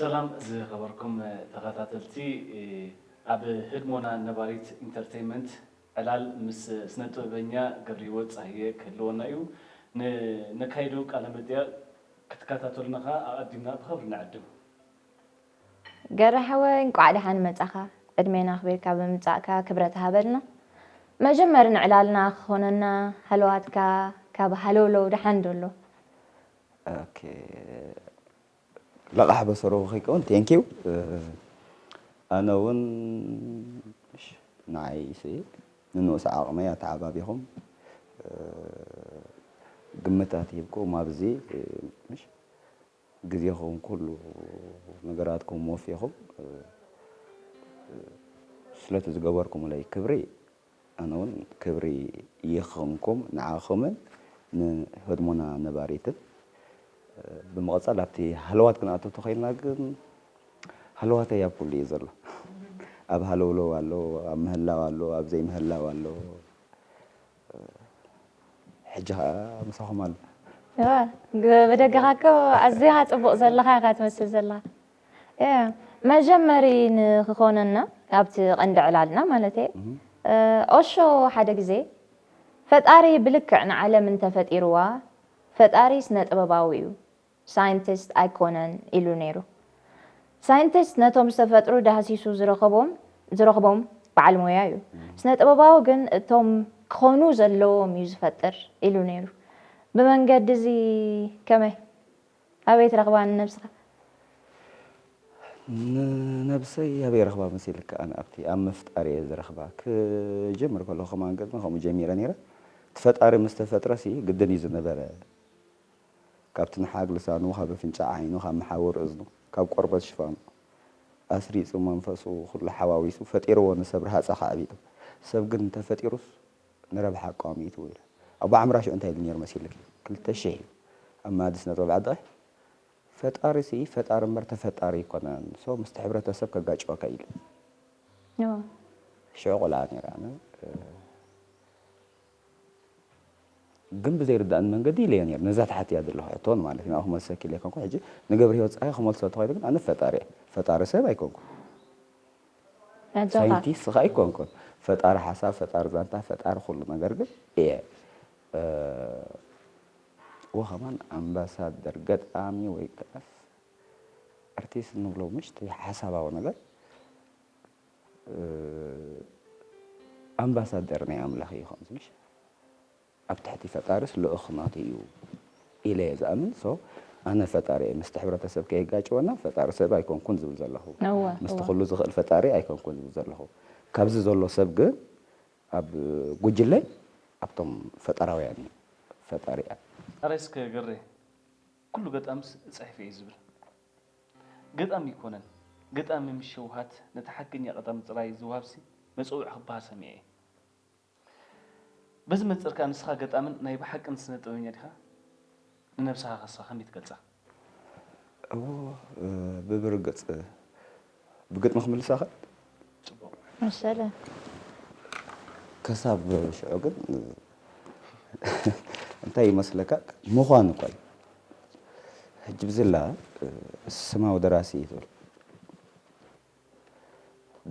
ሰላም ዝኸበርኩም ተኸታተልቲ ኣብ ህድሞና ነባሪት ኢንተርተይመንት ዕላል ምስ ስነ ጥበበኛ ገብሪሂወት ጻህየ ክህልወና እዩ ንነካይዶ ቃለ መጠየቅ ክትከታተሉና ከኣ ኣቀዲምና ብኸብሪ ንዕድም። ገሬ ሓወይ እንቋዕ ደሓን መጻኻ ዕድሜን ኣኽቢርካ ብምምጻእካ ክብረት ሃበልና መጀመሪ ንዕላልና ክኾነና ሃለዋትካ ካብ ሃለውለው ደሓን ዶ ኣሎ። ኦኬ ለቓሕ በሰሩ ከይከውን thank you ኣነ እውን እሺ ንዓይ ሲ ንንኡስ ዓቕመይ ኣተዓባቢኹም ግምታት ሂብኩም ኣብዚ እሺ ግዜኹም ኩሉ ነገራትኩም ወፊኹም ስለቲ ዝገበርኩምለይ ክብሪ ኣነ እውን ክብሪ ይኹንኩም ንዓኹምን ንህድሞና ነባሪትን። ብምቕጻል ኣብቲ ሃለዋት ክንኣቱ ተኾይንና ግን ሃለዋተይ ኣብ ኩሉ እዩ ዘሎ። ኣብ ሃለውለው ኣሎ፣ ኣብ ምህላው ኣሎ፣ ኣብ ዘይምህላው ኣሎ። ሕጂ ከኣ ምሳኹም ኣሎ። ብደገኻ እኮ ኣዝኻ ጽቡቕ ዘለኻ ኢኻ ትመስል ዘለኻ። መጀመሪ ንክኾነና ኣብቲ ቀንዲ ዕላልና ማለተይ ኦሾ ሓደ ግዜ ፈጣሪ ብልክዕ ንዓለም እንተፈጢርዋ ፈጣሪ ስነ ጥበባዊ እዩ ሳይንቲስት ኣይኮነን ኢሉ ነይሩ። ሳይንቲስት ነቶም ዝተፈጥሩ ዳህሲሱ ዝረኸቦም ዝረኽቦም በዓል ሞያ እዩ። ስነ-ጥበባዊ ግን እቶም ክኾኑ ዘለዎም እዩ ዝፈጥር ኢሉ ነይሩ። ብመንገዲ እዚ ከመይ? ኣበይ ትረኽባ ንነብስኻ? ንነብሰይ ኣበይ ረኽባ መሲልካ? ኣነ ኣብቲ ኣብ ምፍጣር እየ ዝረኽባ። ክጅምር ከለኹ ከማን ግጥሚ ከምኡ ጀሚረ ነይረ። እቲ ፈጣሪ ምስ ተፈጥረሲ ግድን እዩ ዝነበረ። ካብ ትንሓግ ልሳኑ ካብ ኣፍንጫ ዓይኑ ካብ መሓውር እዝኑ ካብ ቆርበት ሽፋኑ ኣስሪጹ መንፈሱ ኩሉ ሓዋዊሱ ፈጢርዎ ንሰብ ረሃጽ ኣኻዕቢጡ ሰብ ግን እንተፈጢሩስ ንረብሓ ኣቋሚጡ ኢለ ኣቦ ዓምራ ሽዑ እንታይ ኢሉ ኔሩ መሲልኪ ክልተ ሽሕ ኢዩ ኣብ መኣዲ ስነጥበብ ዓድቒ ፈጣሪሲ ፈጣሪ እምበር ተፈጣሪ ኣይኮነን so ምስቲ ሕብረተሰብ ከጋጭወካ ኢሉ ሽዑ ቆልዓ ኔረ ኣነ። ግን ብዘይርድኣኒ መንገዲ ኢለዮ ኔረ ነዛ ተሓቲያ ዘለኹ ሕቶ ንማለት እዩ ንኣኹ መልሰኪ ኢለዮ ኮንኩ ሕጂ ንገብርሂወት ጸሃየ ክመልሶ እንተኾይነ ግን ኣነ ፈጣሪ እየ ፈጣሪ ሰብ ኣይኮንኩን ሳይንቲስት ከኣ ኣይኮንኩን ፈጣሪ ሓሳብ ፈጣሪ ዛንታ ፈጣሪ ኩሉ ነገር ግን እየ ወኸማን ኣምባሳደር ገጣሚ ወይ ከኣ ኣርቲስት ንብሎ ምሽት ሓሳባዊ ነገር ኣምባሳደር ናይ ኣምላኽ ኢዩ ከምዚ ምሽ ኣብ ትሕቲ ፈጣርስ ልኡኽ ናቱ ኢዩ ኢለ ኢየ ዝኣምን so ኣነ ፈጣሪ ኢየ ምስቲ ሕብረተሰብ ከየጋጭወና ፈጣሪ ሰብ ኣይኮንኩን ዝብል ዘለኹ ምስቲ ኩሉ ዝኽእል ፈጣሪ ኣይኮንኩን ዝብል ዘለኹ ካብዚ ዘሎ ሰብ ግን ኣብ ጉጅለ ኣብቶም ፈጣራውያን ኢዩ ፈጣሪ ኣረ እስከ ግሬ ኩሉ ገጣምስ ጽሒፈ ኢዩ ዝብል። ግጠም እይኮነን ግጠሚ ምስ ሸውሃት ነቲ ሓቀኛ ቀጠሚ ጥራይ ዝውሃብሲ መጸውዒ ክብሃል ሰሚዐ እየ በዚ መንጽር ከኣ ንስኻ ገጣምን ናይ ብሓቅን ስነ ጥበበኛ ዲኻ ንነብስኻ ከስኻ ከመይ ትገልጻ? እዎ ብብርግጽ ብግጥሚ ክምልሳኸ መሰለ። ከሳብ ሽዑ ግን እንታይ ይመስለካ ምዃኑ እኳ እዩ ሕጂ ብዝላ ስማዊ ደራሲ እዩ ትብል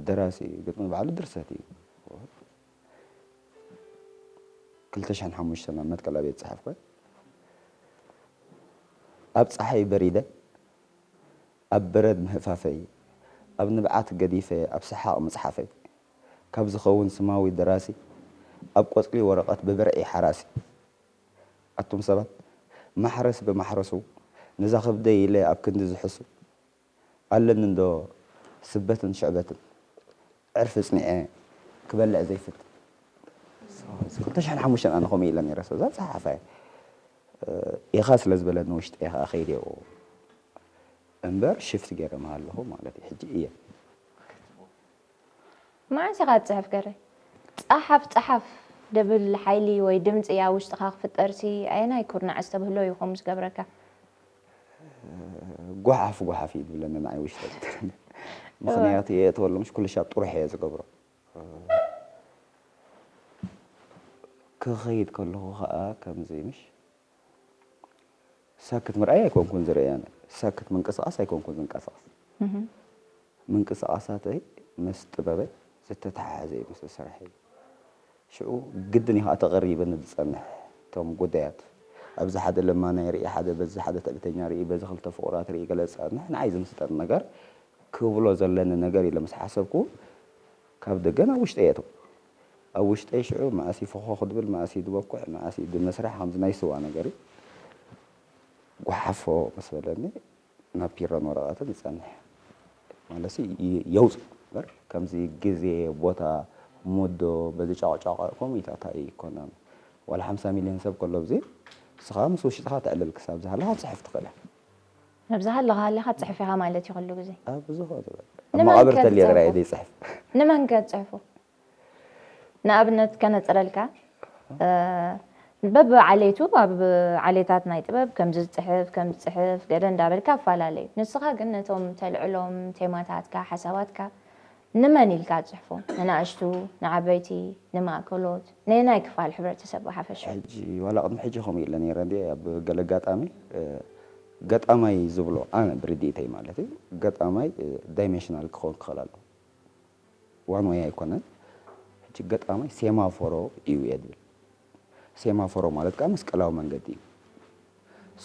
ደራሲ እዩ ግጥሚ ባዕሉ ድርሰት እዩ ክልተ ሽሕን ሓሙሽተን ኣብ መትከል ኣብየት ፀሓፍ ኮይ ኣብ ፀሓይ በሪደ ኣብ በረድ ምህፋፈይ ኣብ ንብዓት ገዲፈ ኣብ ሰሓቕ ምጽሓፈይ ካብ ዝኸውን ስማዊ ደራሲ ኣብ ቆጽሊ ወረቐት ብብርዒ ሓራሲ ኣቱም ሰባት ማሕረስ ብማሕረሱ ነዛ ከብደይ ኢለ ኣብ ክንዲ ዝሕሱ ኣለኒ እንዶ ስበትን ሽዕበትን ዕርፊ ጽኒዐ ክበልዕ ዘይፍትን ሰብኣይ ክልተ ሽሕን ሓሙሽተን ኣነ ከምኡ ኢለ ነይረ ሰብዛ ጸሓፋይ ኢኻ ስለ ዝበለኒ ውሽጠይ ኸኣ ከይደ እምበር ሽፍት ገይረ ምሃለኹ ማለት እዩ ሕጂ እየ መዓስ ኢኻ ትጽሕፍ ገሬ ጸሓፍ ጸሓፍ ድብል ሓይሊ ወይ ድምጺ ኣብ ውሽጥኻ ክፍጠርሲ ኣየናይ ኩርናዕ ኣስተብህሎ እዩ ከምኡ ዝገብረካ? ጓሓፍ ጓሓፍ እዩ ዝብለኒ ንዓይ ውሽጠ ምክንያቱ የእትወሉ ምሽ ኩሉ ሻብ ጥሩሕ እየ ዝገብሮ ክኸይድ ከለኹ ከዓ ከምዚ ምሽ ሳክት ምርኣይ ኣይኮንኩን ዝርአ ኣነ ሳክት ምንቅስቓስ ኣይኮንኩን ዝንቀሳቐስ ምንቅስቓሳተይ ምስ ጥበበይ ዝተተሓሓዘ እዩ ምስ ስርሐይ። ሽዑ ግድን እዩ ከኣ ተቐሪበኒ ዝጸንሕ። እቶም ጉዳያት ኣብዚ ሓደ ለማናይ ርኢ፣ ሓደ በዚ ሓደ ትዕቢተኛ ርኢ፣ በዚ ክልተ ፍቑራት ርኢ ገለ ዝጸንሕ ንዓይ ዝምስጠኒ ነገር ክብሎ ዘለኒ ነገር ኢለ ምስ ሓሰብኩ ካብ ደገ ናብ ውሽጠይ የእትዎ። ኣብ ውሽጠይ ሽዑ መኣስ እዩ ፎኾኽ ድብል፣ መኣስ እዩ ድበኩዕ፣ መኣስ እዩ ድምስራሕ ከምዚ ናይ ስዋ ነገር እዩ። ጓሓፎ ምስ በለኒ ናብ ፒረን ወረቐትን ይጸንሕ ማለሲ የውጽእ እምበር ከምዚ ግዜ ቦታ ሞዶ በዚ ጫቕጫቕ ከምኡ ኢልካ ታይ ኣይኮነን ዋላ ሓምሳ ሚልዮን ሰብ ከሎ ኣብዚ ንስኻ ምስ ውሽጥኻ ተዕልል ክሳብ ዝሃለኻ ክትጽሕፍ ትኽእል ኢኻ። ኣብ ዝሃለኻ ሃሊኻ ትጽሕፍ ኢኻ ማለት ኢዩ ኩሉ ግዜ። ኣብ ዝኸነ በቃ ኣብ መቓብር ተልየ ጥራይ እየ ዘይጽሕፍ። ንመን ከ ትጽሕፎ? ንኣብነት ከነጽረልካ በብዓሌቱ ኣብ ዓሌታት ናይ ጥበብ ከምዚ ዝጽሕፍ ከምዚ ዝጽሕፍ ገለ እንዳበልካ ኣፈላለዩ። ንስኻ ግን ነቶም ተልዕሎም ቴማታትካ ሓሳባትካ ንመን ኢልካ ትጽሕፎም? ንናእሽቱ? ንዓበይቲ? ንማእከሎት? ነየናይ ክፋል ሕብረተሰብ ብሓፈሻ? ሕጂ ዋላ ቅድሚ ሕጂ ከምኡ ኢለ ነይረ እንድየ ኣብ ገለ ኣጋጣሚ ገጣማይ ዝብሎ ኣነ ብርድኢተይ ማለት'ዩ ገጣማይ ዳይመሽናል ክኸውን ክኽእል ኣለዎ። ዋን ዌይ ኣይኮነን ሕጂ ገጣማይ ሴማፎሮ እዩ እየ ዝብል ሴማፎሮ ማለት ከዓ መስቀላዊ መንገዲ እዩ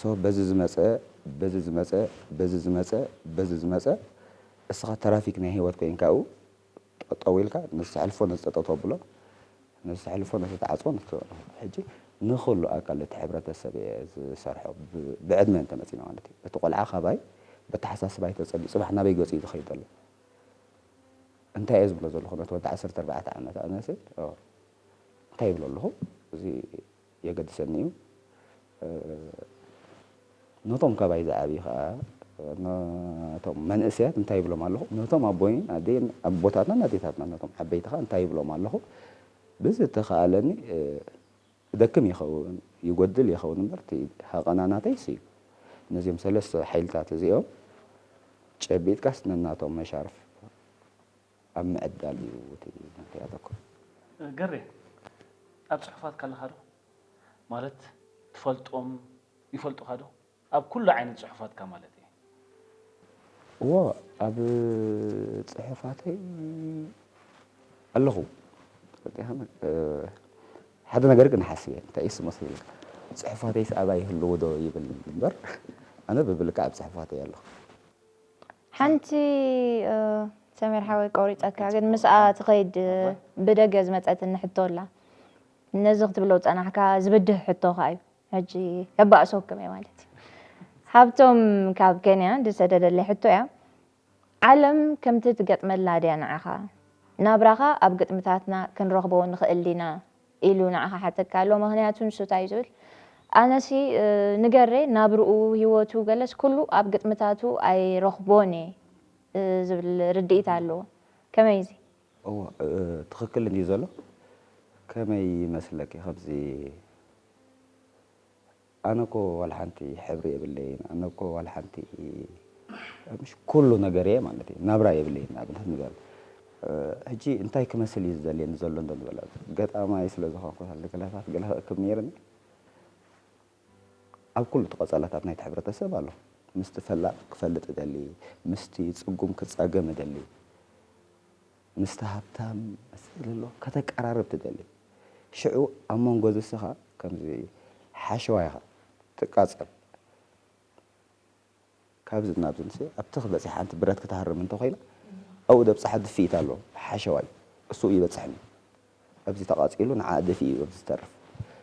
ሶ በዚ ዝመፀ በዚ ዝመፀ በዚ ዝመፀ በዚ ዝመፀ እስኻ ተራፊክ ናይ ህይወት ኮይንካ ኣብኡ ጠጠው ኢልካ ነዚ ተሕልፎ ነዚ ጠጠው ተብሎ ነዚ ተሕልፎ ነዚ ተዓፅቦ ነዚ ተበሎ ሕጂ ንኹሉ ኣካል እቲ ሕብረተሰብ እየ ዝሰርሖ ብ- ብዕድመ እንተመፂና ማለት እዩ እቲ ቆልዓ ካባይ በተሓሳስባይ ተፀልዩ ፅባሕ ናበይ ገፁ እዩ ዝኸይድ ዘሎ እንታይ እየ ዝብሎ ዘለኹ ነቲ ወዲ ዓሰርተ ኣርባዕተ ዓመት ኣነ ሲ እንታይ ይብሎ ኣለኹ እዚ የገድሰኒ እዩ ነቶም ካባይ ዝዓብዩ ከዓ ነቶም መንእሰያት እንታይ ይብሎም ኣለኹ ነቶም ኣቦይን ኣደይን ኣቦታትናን ኣዴታትና ነቶም ዓበይቲ ከዓ እንታይ ይብሎም ኣለኹ ብዝተኸኣለኒ ክደክም ይኸውን ይጎድል ይኸውን እምበር እቲ ሃቐና ናተይስ እዩ። ነዚኦም ሰለስተ ሓይልታት እዚኦም ጨቢጥካስ ነናቶም መሻርፍ ኣብ ምዕዳል እዩ እቲ ናተይ ኣተኩሮ። ገሬ ኣብ ጽሑፋትካ ኣለኻ ዶ? ማለት ትፈልጦም ይፈልጡኻ ዶ? ኣብ ኩሉ ዓይነት ጽሑፋትካ ማለት እየ። እዎ ኣብ ጽሑፋተይ ኣለኹ። ሓደ ነገር ግን እሓስብ እየ እንታይ እዩስ መሲሉካ ጽሑፋተይስ ኣብኣ ይህልዉ ዶ ይብል እምበር ኣነ ብብልክዕ ኣብ ጽሑፋተይ ኣለኹ። ሓንቲ ሰሚር ሓወይ ቆሪጸካ ግን ምስኣ ትኸይድ ብደገ ዝመጸትኒ ሕቶ ኣላ። ነዚ ክትብሎ ዝጸናሕካ ዝብድህ ሕቶ ከኣ እዩ። ሕጂ ከባእሶኩም እየ ማለት እዩ። ሃብቶም ካብ ከንያ ዝሰደደለይ ሕቶ እያ ዓለም ከምቲ ትገጥመላ ድያ ንዓኻ? ናብራኻ ኣብ ግጥምታትና ክንረኽቦ ንኽእል ዲና? ኢሉ ንዓኻ ሓተካ ኣሎ ምኽንያቱ ንሱ ታይ እዩ ዝብል ኣነሲ ንገሬ ናብርኡ ሂወቱ ገለስ ኩሉ ኣብ ግጥምታቱ ኣይረኽቦን እየ ዝብል ርድኢት ኣለዎ ከመይ እዚ እወ ትክክል እንድዩ ዘሎ ከመይ ይመስለኪ ከምዚ ኣነ እኮ ዋላ ሓንቲ ሕብሪ የብለይን ኣነ እኮ ዋላ ሓንቲ ምሽ ኩሉ ነገር እየ ማለት እዩ ናብራ የብለይን ንኣብነት ንበል ሕጂ እንታይ ክመስል እዩ ዝደልየኒ ዘሎ እንዶ ንበል ገጣማይ ስለ ዝኾንኩ ገለታት ገለ ክእክብ ነይርኒ ኣብ ኩሉ እቲ ቀጸላታት ናይቲ ሕብረተሰብ ኣሎ። ምስቲ ፈላጥ ክፈልጥ እደሊ፣ ምስቲ ጽጉም ክጻገም እደሊ፣ ምስቲ ሃብታም ምስ ዘሎሎ ከተቀራርብ ትደሊ። ሽዑ ኣብ መንጎ እዚ እስኻ ከምዚ ሓሸዋ ኢኻ ትቃጸል። ካብዝን ናብዝንሲ ኣብ ትኽ በጺሕ ሓንቲ ብረት ክትሃርም እንተ ኮይና ኣብኡ ዘብጽሓ ድፍኢት ኣሎ ሓሸዋይ እሱኡ ይበጽሕኒ ኣብዚ ተቃጺሉ ንዓኣ ደፊኡ እዩ ኣብዚ ዝተርፍ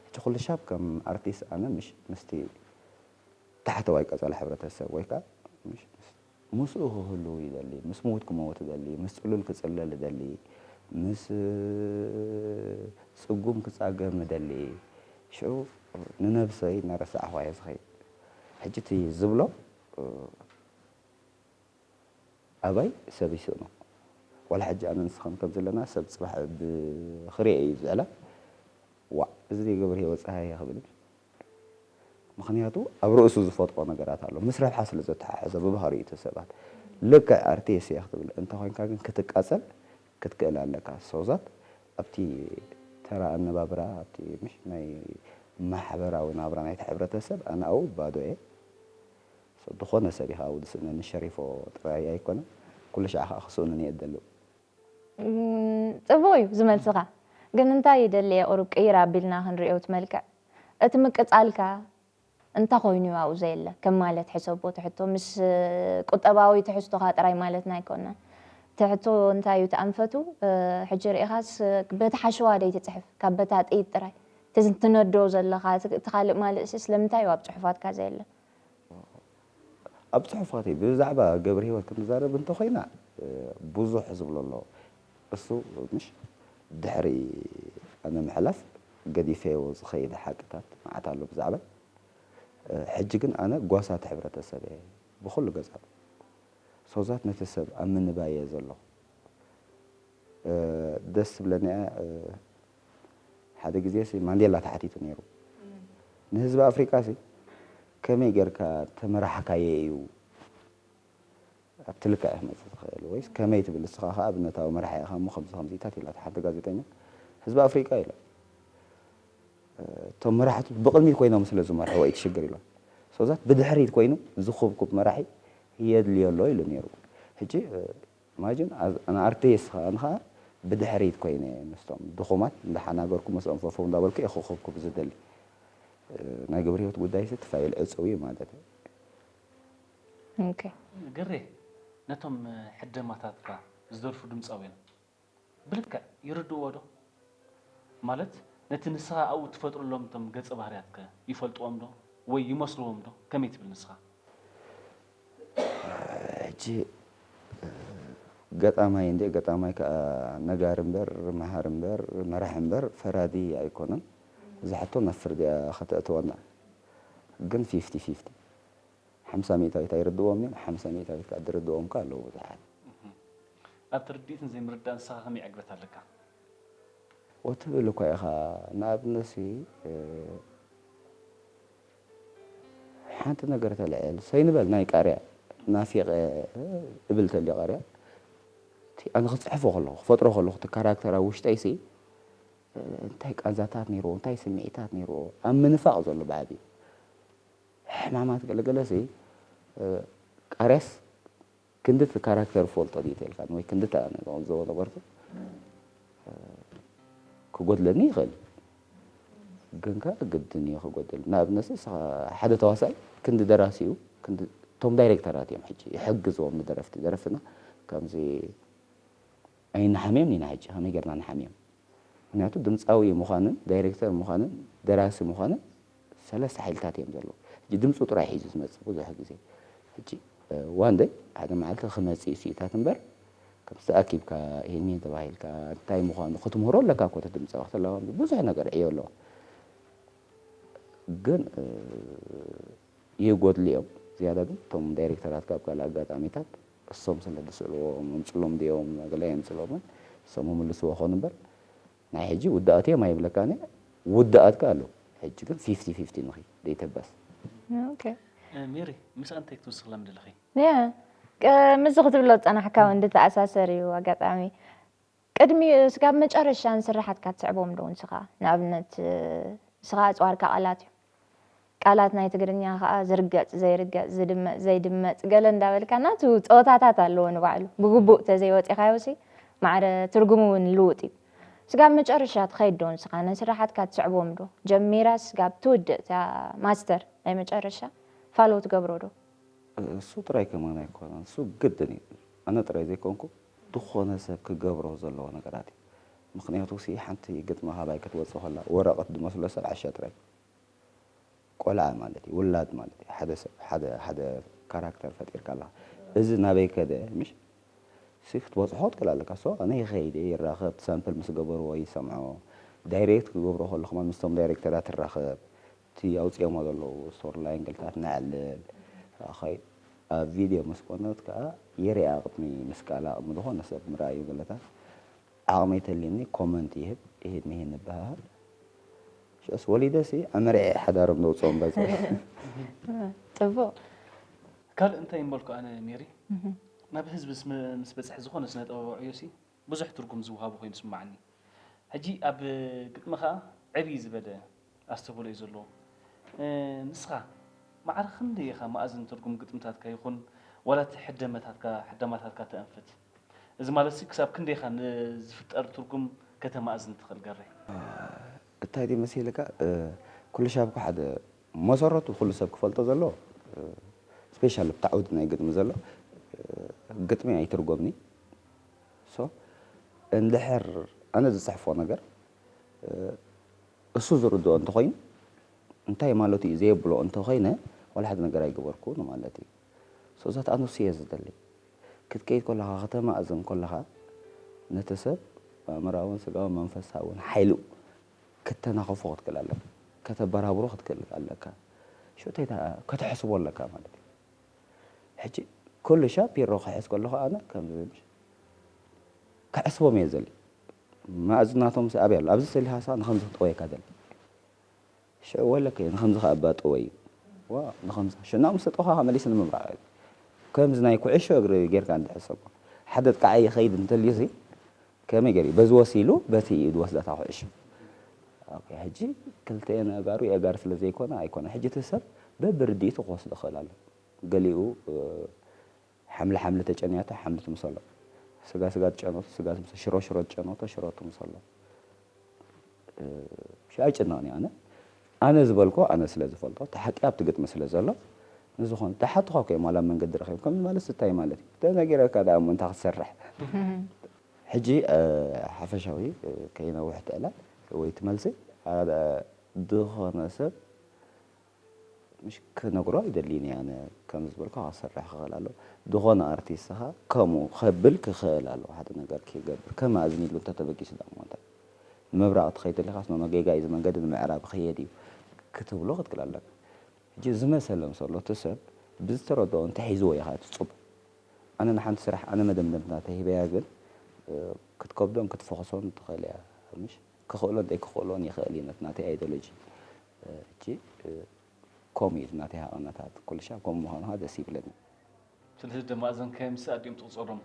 ሕጂ ኩልሻብ ከም ኣርቲስ ኣነ ምሽ ምስቲ ታሕተዋይ ቀጸላ ሕብረተሰብ ወይ ከኣ ምሽ ምስ ምስኡ ክህሉ ይደሊ ምስ ምዉት ክመዉት እደሊ ምስ ጽሉል ክጽለል እደሊ ምስ ጽጉም ክጻገም እደሊ ሽዑ ንነብሰይ እናረሳዕኹ ኣየ ዝኸይድ። ሕጂ እቲ ዝብሎ ኣባይ ሰብ ይስእኖ ዋላ ሕጂ ኣነ ንስኻን ከም ዘለና ሰብ ጽባሕ ብ ክሪኤ እዩ ዝዕላ ዋእ እዚ ድዩ ገብርሂወት ጸሃየ ክብል እዩ ምኽንያቱ ኣብ ርእሱ ዝፈጥሮ ነገራት ኣሎ ምስ ረብሓ ስለ ዘተሓሕዞ ብባህሪኡ እቲ ሰባት ልክዕ ኣርቲስ እየ ክትብል እንተ ኮንካ ግን ክትቃጸል ክትክእል ኣለካ ሶዛት ኣብቲ ተራ ኣነባብራ ኣብቲ ምሽ ናይ ማሕበራዊ ናብራ ናይቲ ሕብረተሰብ ኣነ ኣው ባዶ እየ ሰብ ድኾነ ሰብ ኢኻ ኣው ድስእነኒ ሸሪፎ ጥራይ ኣይኮነን ኩሉ ሻዕ ኻኣ ክስእኑኒ እየ ድደሊ ጽቡቅ እዩ ዝመልስኻ ግን እንታይ ይደሊ እየ ቁሩብ ቅይር ኣቢልና ክንሪኦ እቲ መልክዕ እቲ ምቅጻልካ እንታይ ኮይኑ እዩ ኣብኡ ዘየለ ከም ማለት ሕሰቦ እቲ ሕቶ ምስ ቁጠባዊ ትሕዝቶኻ ጥራይ ማለትና ኣይኮናን እቲ ሕቶ እንታይ እዩ እቲ ኣንፈቱ ሕጂ ርኢኻስ በቲ ሓሸዋ ደይትጽሕፍ ካብ በታ ጥይት ጥራይ እቲ ትነዶ ዘለኻ እቲ ካልእ ማልእሲ ስለምንታይ እዩ ኣብ ጽሑፋትካ ዘየለ ኣብ ጽሑፋተይ ብዛዕባ ገብርሂወት ክንዛረብ እንተኾይና ብዙሕ ዝብሎ ኣሎ እሱ ምሽ ድሕሪ ኣነ ምሕላፍ ገዲፈዮ ዝኸይደ ሓቅታት መዓት ኣሎ ብዛዕባይ። ሕጂ ግን ኣነ ጓሳ እቲ ሕብረተሰብ እየ ብኹሉ ገጻቱ። ሶዛት ነቲ ሰብ ኣብ ምንባይ እየ ዘለኹ። ደስ ትብለኒ እያ ሓደ ግዜሲ ማንዴላ ተሓቲቱ ነይሩ ንህዝቢ ኣፍሪቃሲ ከመይ ጌርካ ተመራሕካዬ እዩ ኣብቲ ልክዕ እዩ ክመጽእ ዝኽእል ወይስ ከመይ ትብል ንስኻ ከኣ ኣብነታዊ መራሒ ኢኻ እሞ ከምዚ ከምዚታት ኢላታ ሓንቲ ጋዜጠኛ ህዝቢ ኣፍሪቃ ኢላ እቶም መራሕቱ ብቕድሚት ኮይኖም ስለ ዝመርሕዎ እዩ እቲ ሽግር ኢሎም so that ብድሕሪት ኮይኑ ዝኹብኩብ መራሒ የድልዮ ኣሎ ኢሉ ነይሩ ሕጂ imagine as an artist ከኣ ኣነ ከኣ ብድሕሪት ኮይነ ምስቶም ድኹማት እንዳሓናገርኩ ምስኦም ፈፈው እንዳበልኩ እየ ክኹብኩብ ዝደሊ ናይ ግብረሂወት ጉዳይሲ እቲ ፋይል ዕጹው እዩ ማለት እዩ ግሬ ነቶም ሕደማታትካ ዝደርፉ ድምጻውያን ብልክዕ ይርድእዎ ዶ? ማለት ነቲ ንስኻ ኣብኡ እትፈጥረሎም እቶም ገጸ ባህርያትከ ይፈልጥዎም ዶ ወይ ይመስልዎም ዶ ከመይ ትብል ንስኻ? ሕጂ ገጣማይ እንድየ ገጣማይ ከኣ ነጋሪ እምበር መሃሪ እምበር መራሒ እምበር ፈራዲ ኣይኮነን። እዛ ሕቶ ናብ ፍርዲ'ያ ከተእትወና ግን ፊፍቲ ፊፍቲ። ሓምሳ ሚእታዊት ኣይርድእዎም እዮም፣ ሓምሳ ሚእታዊት ከኣ ድርድእዎም ከኣ ኣለዉ ብዙሓት። ኣብቲ ርድኢትን ዘይምርዳእን ንስኻ ከመይ ዕግበት ኣለካ? ኦ ትብል እኳ ኢኻ፣ ንኣብነትሲ ሓንቲ ነገር ተልዕል፣ ሰይ ንበል ናይ ቃርያ ናፊቐ እብል ተልዮ ቃርያ እቲ ኣነ ክጽሕፎ ከለኹ ክፈጥሮ ከለኹ እቲ ካራክተር ኣብ ውሽጠይሲ እንታይ ቃንዛታት ነይርዎ እንታይ ስምዒታት ነይርዎ ኣብ ምንፋቕ ዘሎ ብዓቢኡ ሕማማት ገለ ገለ ሲ ቃርያስ ክንዲ እቲ ካራክተር ፈልጦ ድዩ ተልካ ወይ ክንዲ እታ ንዕዘቦ ነበርኩ ክጎድለኒ ይኽእል ግን ከ ግድን እዩ ክጎድል ንኣብነት ንስኻ ሓደ ተዋሳኢ ክንዲ ደራሲ እዩ ክንዲ እቶም ዳይሬክተራት እዮም ሕጂ ይሕግዝዎም ንደረፍቲ ደረፍትና ከምዚ ኣይንሓምዮም ኢና ሕጂ ከመይ ጌርና ንሓምዮም ምክንያቱ ድምጻዊ ምኳንን ዳይረክተር ምኳንን ደራሲ ምኳንን ሰለስተ ሓይልታት እዮም ዘለዉ ሕጂ ድምጹ ጥራይ ሒዙ ዝመጽእ ብዙሕ ግዜ ሕጂ ዋን ደይ ሓደ መዓልቲ ክመጽእ እዩ ስኢታት እምበር ከምቲ ኣኪብካ ይሄን ተባሂልካ እንታይ ምኳኑ ክትምህሮ ኣለካ እኮ እቲ ድምጻዊ ክትለማመዶ ብዙሕ ነገር ዕዮ ኣለዎ ግን ይጎድሉ እዮም ዝያዳ ግን እቶም ዳይሬክተራት ካብ ካልእ ኣጋጣሚታት እሶም ስለ ድስእልዎ ምምጽሎም ድዮም ገለ ኣይምጽሎምን እሶም ምምልስዎ ኮኑ እምበር ናይ ሕጂ ውዳኣት እዮም ኣይብለካን እየ ውዳኣት ከኣ ኣለዉ ሕጂ ግን ፊፍቲ ፊፍቲ ንኺ ደይተበስ። ኦኬ ሜሪ ምስኣ እንታይ ክትውስኽላ ምደለኺ? ያ ምስዚ ክትብሎ ዝጸናሕካ ውን ዝተኣሳሰር እዩ ኣጋጣሚ ቅድሚ ስጋብ መጨረሻ ንስርሓትካ ትስዕቦም ዶ ንስኻ? ንኣብነት ንስኻ ኣጽዋርካ ቃላት እዮም። ቃላት ናይ ትግርኛ ከኣ ዝርገጽ ዘይርገጽ፣ ዝድመጽ ዘይድመጽ ገለ እንዳበልካ ናቱ ጸወታታት ኣለዎ ንባዕሉ። ብግቡእ ተዘይወጺኻዮሲ ማዕረ ትርጉሙ ውን ልውጥ እዩ። ስጋብ መጨረሻ ትኸይድ ዶ ንስኻ? ንስርሓትካ ትስዕቦም ዶ? ጀሚራስ ስጋብ ትውድእ እታ ማስተር ናይ መጨረሻ ፋሎ ትገብሮ ዶ? እሱ ጥራይ ከማን ኣይኮነን እሱ ግድን እዩ ኣነ ጥራይ ዘይኮንኩ ድኾነ ሰብ ክገብሮ ዘለዎ ነገራት እዩ ምኽንያቱ ሲ ሓንቲ ግጥሚ ካባይ ክትወጽእ ከላ ወረቀት ድመስሎ ሰብ ዓሻ ጥራይ እዩ ቆልዓ ማለት እዩ ውላድ ማለት እዩ ሓደ ሰብ ሓደ ሓደ ካራክተር ፈጢርካ ኣለኻ እዚ ናበይ ከደ ምሽ ሲ ክትበጽሖ ክትክል ኣለካ ሶ ኣነ ይኸይድ እየ ይራኸብ ሳምፕል ምስ ገበርዎ ይሰምዖ ዳይሬክት ክገብሮ ከለኹ ምስቶም ዳይሬክተራት ትራኸብ እቲ ኣውጺኦሞ ዘለዉ ስቶር ላይን ግልታት ነዕልል ራኸይ ኣብ ቪድዮ ምስ ኮነት ከኣ ይርኣ ቅድሚ ምስቃል ኣቅሚ ዝኾነ ሰብ ምርኣዩ ግልታት ዓቅሚ ተልዩኒ ኮመንት ይህብ ይህድ ንሂድ ንበሃሃል ሽዑስ ወሊደሲ ኣመርዕየ ሓዳሮም ዘውጽኦም በዚ ጽቡቅ ካልእ እንታይ ምበልኩ ኣነ ሜሪ ናብ ህዝቢ ምስ በጽሐ ዝኾነ ስነ ጥበባዊ ዕዮሲ ብዙሕ ትርጉም ዝውሃቦ ኮይኑ ዝስማዓኒ ሕጂ ኣብ ግጥሚ ከኣ ዕብይ ዝበለ ኣስተብህሎ እዩ ዘለዎ ንስኻ ማዕረ ክንደይ ኢኻ መኣዝን ትርጉም ግጥምታትካ ይኹን ዋላ እቲ ሕደመታትካ ሕደማታትካ ተእንፍት እዚ ማለትሲ ክሳብ ክንደይ ኢኻ ንዝፍጠር ትርጉም ከተማእዝን ትኽእል ገሬ። እታይ ድዩ መሲልካ ኩሉሻብ እኮ ሓደ መሰረቱ ኩሉ ሰብ ክፈልጦ ዘለዎ ስፔሻሊ ኣብቲ ዓውዲ ናይ ግጥሚ ዘሎ ግጥሚ ኣይትርጎምኒ so እንድሕር ኣነ ዝጽሕፎ ነገር እሱ ዝርድኦ እንተኾይኑ እንታይ ማለቱ እዩ ዘየብሎ እንተኾይነ ዋላ ሓደ ነገር ኣይገበርኩ ንማለት እዩ so እዛ ተኣ ንሱ እየ ዝደሊ ክትከይድ ኮለኻ ከተማእዝን ኮለኻ ነቲ ሰብ ኣእምራውን ስጋውን መንፈሳውን ሓይሉ ከተናኸፎ ክትክእል ኣለካ ከተበራብሮ ክትክእል ኣለካ ሸቶይታ ከተሕስቦ ኣለካ ማለት እዩ ሕጂ ኩሉ ሻፒሮ ክሕዝ ከለኹ ኣነ ከምዚ ምሽ ክዕስቦም እየ ዝደሊ ማእዝናቶምሲ ኣበይ ኣሎ ኣብዚ ስእሊ ሃሳ ንከምዚ ክጥወየካ ደሊ ሽዑ ወለከ ንከምዚ ከኣ እባ ጥወዩ ዋ ንከምዚ ሽዑ ናብ ምሰጠኹካ ከመሊሲ ንምብራዕ ከምዚ ናይ ኩዕሾ እግሪ ጌርካ እንድሕር ሰብካ ሓደ ጥቃዓይ ይኸይድ እንተልዩሲ ከመይ ገሩ በዚ ወሲሉ በቲ ኢዩ ዝወስዳ እታ ኩዕሾ ኦኬ ሕጂ ክልቴኤን ኣእጋሩ የእጋር ስለ ዘይኮና ኣይኮነን ሕጂ እቲ ሰብ በብርድኢቱ ክወስዶ ይክእል ኣሎ ገሊኡ ሓምሊ ሓምሊ ተጨንያቶ ሓምሊ ትምሰሎ ስጋ ስጋ ትጨንቶ ስጋ ትምሰሎ ሽሮ ሽሮ ትጨንቶ ሽሮ ትምሰሎ። እሺ ኣይጭነቕን እየ ኣነ ኣነ ዝበልኩ ኣነ ስለ ዝፈልጦ እቲ ሓቂ ኣብቲ ግጥሚ ስለ ዘሎ ንዝኾነ ዳሓቱኻ እኮ እዮም ዋላ ኣብ መንገዲ ረኺብካዮም ማለትስ እንታይ ማለት እዩ ተነጊረካ ዳኣ እሞ እንታይ ክትሰርሕ ሕጂ ሓፈሻዊ ከይነውሕ እቲ ዕላል ወይ እቲ መልሲ ሓደ ዝኾነ ሰብ ምሽ ክነግሮ ኣይደልይን እየ ኣነ ከምዚ ዝበልካ ክሰርሕ ክኽእል ኣለዎ ዝኾነ ኣርቲስት ከኣ ከምኡ ከብል ክኽእል ኣለዎ ሓደ ነገር ከይገብር ከም ኣዝኒሉ እንተ ተበጊሱ ደኣ እሞ እንታይ ንምብራቕ ትኸይድ ተሊኻስ ኖኖ ጌጋ እዩ እዚ መንገዲ ንምዕራብ ክኸየድ እዩ ክትብሎ ክትክል ኣለካ ሕጂ ዝመሰለ ምስ ኣሎ እቲ ሰብ ብዝተረድኦ እንተ ሒዝዎ እዩ ከኣ እቲ ጽቡቕ ኣነ ንሓንቲ ስራሕ ኣነ መደምደምታ ተሂበያ ግን ክትከብዶን ክትፈኹሶን ትኽእል እያ ምሽ ክኽእሎን ደይክኽእሎን ይኽእል እዩ ነቲ ናተይ ኣይዶሎጂ ሕጂ ኮም እዩ ናተይ ሃቐነታት ኩልሻብ ኮም ምዃኑ ከኣ ደስ ይብለኒ። ስለዚ ደማ እዘን ከየምስ ኣዲኦም ትቁጸሮም።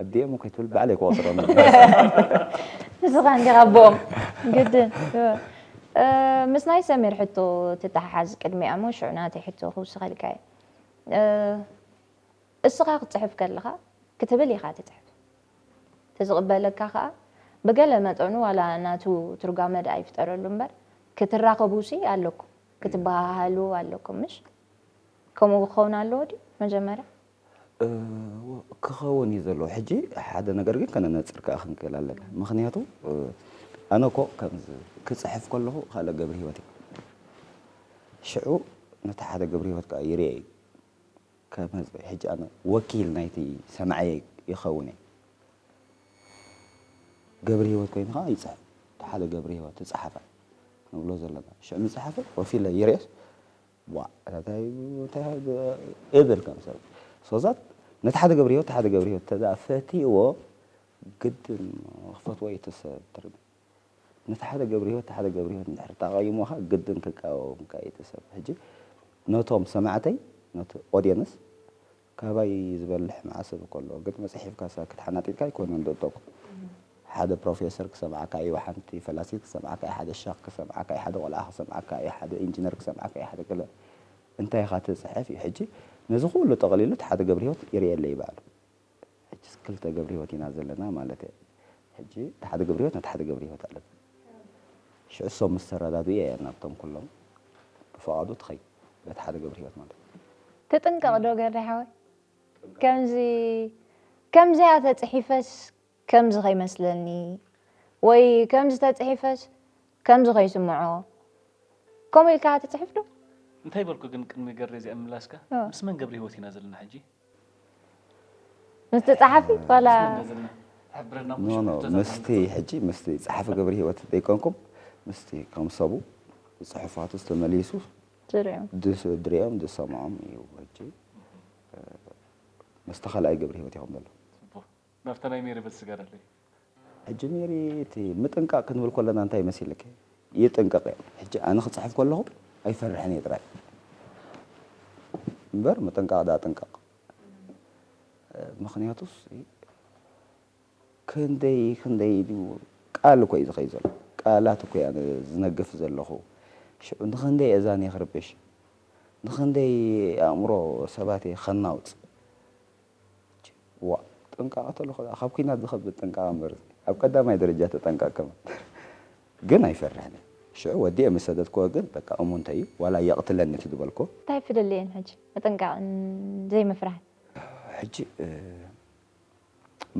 ኣዲኦም ከይትብል ባዕለይ ክቆጽሮም እየ። ንስኻ እንዲኻ ኣቦኦም ግድን። ምስ ናይ ሰሚር ሕቶ ትተሓሓዝ ቅድሚኣ እሞ ሽዑ ናተይ ሕቶ ክውስኸልካ እየ። እስኻ ክትጽሕፍ ከለኻ ክትብል ኢኻ ትጽሕፍ። እቲ ዝቕበለካ ከኣ ብገለ መጠኑ ዋላ ናቱ ትርጓመ ደኣ ይፍጠረሉ እምበር ክትራኸቡሲ ኣለኩም ክትበሃሃሉ ኣለኩም ምሽ? ከምኡ ክኸውን ኣለዎ ድዩ መጀመርያ? እወ ክኸውን እዩ ዘለዎ ሕጂ ሓደ ነገር ግን ከነነጽር ከኣ ክንክእል ኣለና ምኽንያቱ ኣነ እኮ ከምዚ ክጽሕፍ ከለኹ ካልእ ገብርሂወት እየ ሽዑ ነቲ ሓደ ገብርሂወት ከኣ ይርኤ እዩ ከም ህዝቢ ሕጂ ኣነ ወኪል ናይቲ ሰማዒ ይኸውን እየ ገብሪሂወት ኮይኑ ከኣ ይጽሕፍ እቲ ሓደ ገብሪሂወት ትጽሓፈ ንብሎ ዘለና ሽዕ ምጽሓፈ ኮፍ ኢለ ይርእስ ዋ እታይ እብል ከም ሰብ ሶዛት ነቲ ሓደ ገብሪሂወት እቲ ሓደ ገብሪሂወት ተዛ ፈቲእዎ ግድን ክፈትዎ እዩ እቲ ሰብ ትርጉም ንተሓተ ገብሪሂወት ተሓተ ገብሪሂወት እንድሕር ታቃይሞካ ግድን ክቃወምካ ኢዩ እቲ ሰብ ሕጂ ነቶም ሰማዕተይ ነቲ ኦዴንስ ካባይ ዝበልሕ መዓሰብ እኮ ኣሎ ግን መጽሒፍካ ሳክት ሓናጢጥካ ኣይኮነን ዶቶኩ ሓደ ፕሮፌሰር ክሰምዓካ ኢዩ ሓንቲ ፈላሲት ክሰምዓካ ኢዩ ሓደ ሸኽ ክሰምዓካ ኢዩ ሓደ ቆልዓ ክሰምዓካ ኢዩ ሓደ ኢንጂነር ክሰምዓካ ኢዩ ሓደ ገለ እንታይ ኢኻ ትጽሕፍ ኢዩ ሕጂ ነዚ ኩሉ ጠቅሊሉ ተሓተ ገብሪሂወት ይርእየለይ ባዕሉ ሕጅስ ክልተ ገብርሂወት ኢና ዘለና ማለት እየ ሕጂ እቲ ሓደ ገብርሂወት ነቲ ሓደ ገብርሂወት ኣለና ሽዑ እሶም ምስ ተረዳድኡ እየ ናብቶም ኩሎም ብፍቓዱ ትኸይድ በቲ ሓደ ገብርሂወት ማለት እዩ ትጥንቀቕ ዶ ገሬ ሓወይ ከምዚ ከምዚኣ ተጽሒፈስ ከምዚ ከይመስለኒ ወይ ከምዚ ተጽሒፈስ ከምዚ ከይስምዖ ከምኡ ኢልካ ትጽሕፍ ዶ? እንታይ በልኩ ግን ቅድሚ ገሬ እዚኣ ምምላስካ ምስ መን ገብርሂወት ኢና ዘለና ሕጂ? ምስቲ ጸሓፊ ዋላ ኖ ኖ ምስቲ ሕጂ ምስቲ ጸሓፊ ገብረ ህይወት ዘይኮንኩም ምስቲ ከም ሰቡ ጽሑፋቱ ዝተመሊሱ ድሪኦም ድሰምዖም እዩ ሕጂ ምስቲ ካልኣይ ገብረ ህይወት ኢኹም ዘለኹም ናብታ ናይ ሜሪ ብል ስገረለይ። ሕጂ ሜሪ እቲ ምጥንቃቅ ክንብል ኮለና እንታይ መሲልኪ ይጥንቀቅ እየ ሕጂ ኣነ ክጽሕፍ ኮለኩ ኣይፈርሕን እየ ጥራይ እምበር ምጥንቃቅ ድኣ ጥንቀቅ ምክንያቱስ ክንደይ ክንደይ ድዩ ቃል እኮ እዩ ዝከይድ ዘሎ ቃላት እኮ እያ ዝነግፍ ዘለኩ ሽዑ ንክንደይ እየ ዛንየ ክርብሽ ንክንደይ ኣእምሮ ሰባት እየ ከናውጽ ዋእ ጥንቃቀ ተልኮ ድኣ ካብ ኩናት ዝከብድ ጥንቃቀ እምበር ኣብ ቀዳማይ ደረጃ ተጠንቀቅ ከማን ግን ኣይፈርሕን እየ ሽዑ ወዲኤ ምስ ሰደድክዎ ግን በቃ እሙንተይ እዩ ዋላ የቅትለኒ እቲ ዝበልክዎ እንታይ ፍልልይ እየን ሕጂ ምጥንቃቅን ዘይምፍራህን። ሕጂ